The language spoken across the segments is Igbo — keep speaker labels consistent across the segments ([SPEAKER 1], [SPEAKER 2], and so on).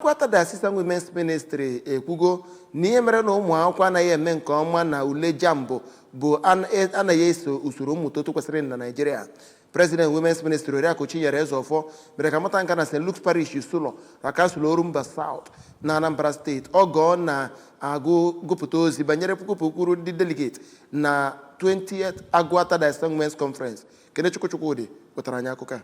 [SPEAKER 1] Agụata Diocesan Women's Ministry ekwugo na ihe mere na ụmụ akwụkwọ anaghị eme nke ọma na ule JAMB bụ an- e- anaghị eso usoro mmụta otu kwesịrị na Naịjirịa President Women's Ministry Oriakụ Chinyere Ezeọfọ mere ka a mata nka na St. Luke's Parish Isulo na kansụl Orumba South na Anambra steeti oge ọ na-agụ gụpụta ozi banyere puku pukwuru ndị delegate na 20th Agụata Diocese Women's Conference Kenechukwu Chukwudi wetara anyị akụkọ a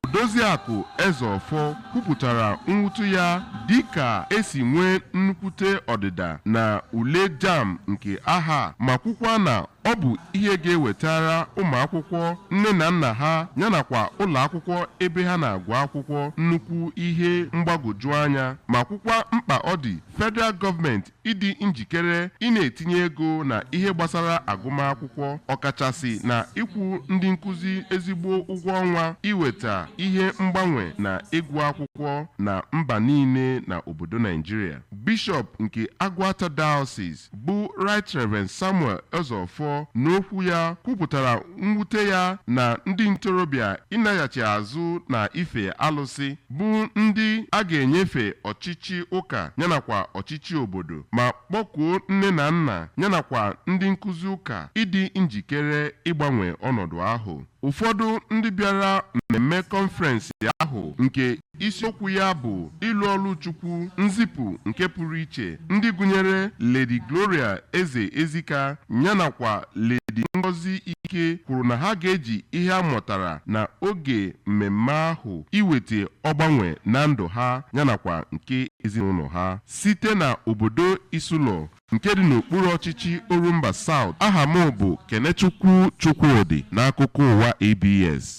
[SPEAKER 2] Odoziakụ Ezeọfọ kwupụtara mwute ya dịka esi nwee nnukwute ọdịda na ule JAMB nke ahọ a ma kwukwa na ọ bụ ihe ga-ewetara ụmụakwụkwọ nne na nna ha yanakwa ụlọakwụkwọ ebe ha na-agụ akwụkwọ nnukwu ihe mgbagwoju anya ma kwukwa mkpa ọ dị federal gọọmenti ịdị njikere ị na-etinye ego na ihe gbasara agụmakwụkwọ ọkachasị na ịkwụ ndị nkụzi ezigbo ụgwọ ọnwa iweta ihe mgbanwe na ịgụ akwụkwọ na mba niile na obodo Naijiria Bishọp nke Agụata Diocese bụ Right Reverend Samuel Ezeofor n'okwu ya kwupụtara mwute ya na ndị ntorobịa ịnaghachi azụ na ife alụsị bụ ndị a ga-enyefe ọchịchị ụka yanakwa ọchịchị obodo ma kpọkuo nne na nna yanakwa ndị nkụzi ụka ịdị njikere ịgbanwe ọnọdụ ahụ ụfọdụ ndị bịara mmemme kọnferensị ahụ nke Isiokwu ya bụ Ịlụ Ọlụ Chukwu, Nzipụ nke Pụrụ Iche, ndị gụnyere Lady Gloria Eze Ezika yanakwa Lady Ngozi Ike kwuru na ha ga-eji ihe ha mụtara na oge mmemme ahụ iweta ọgbanwe na ndụ ha yanakwa nke ezinụlọ ha. Site na obodo Isulọ nke dị n'okpuru ọchịchị Orumba South, aha m bụ Kenechukwu Chukwudi n'akụkọ ụwa ABS.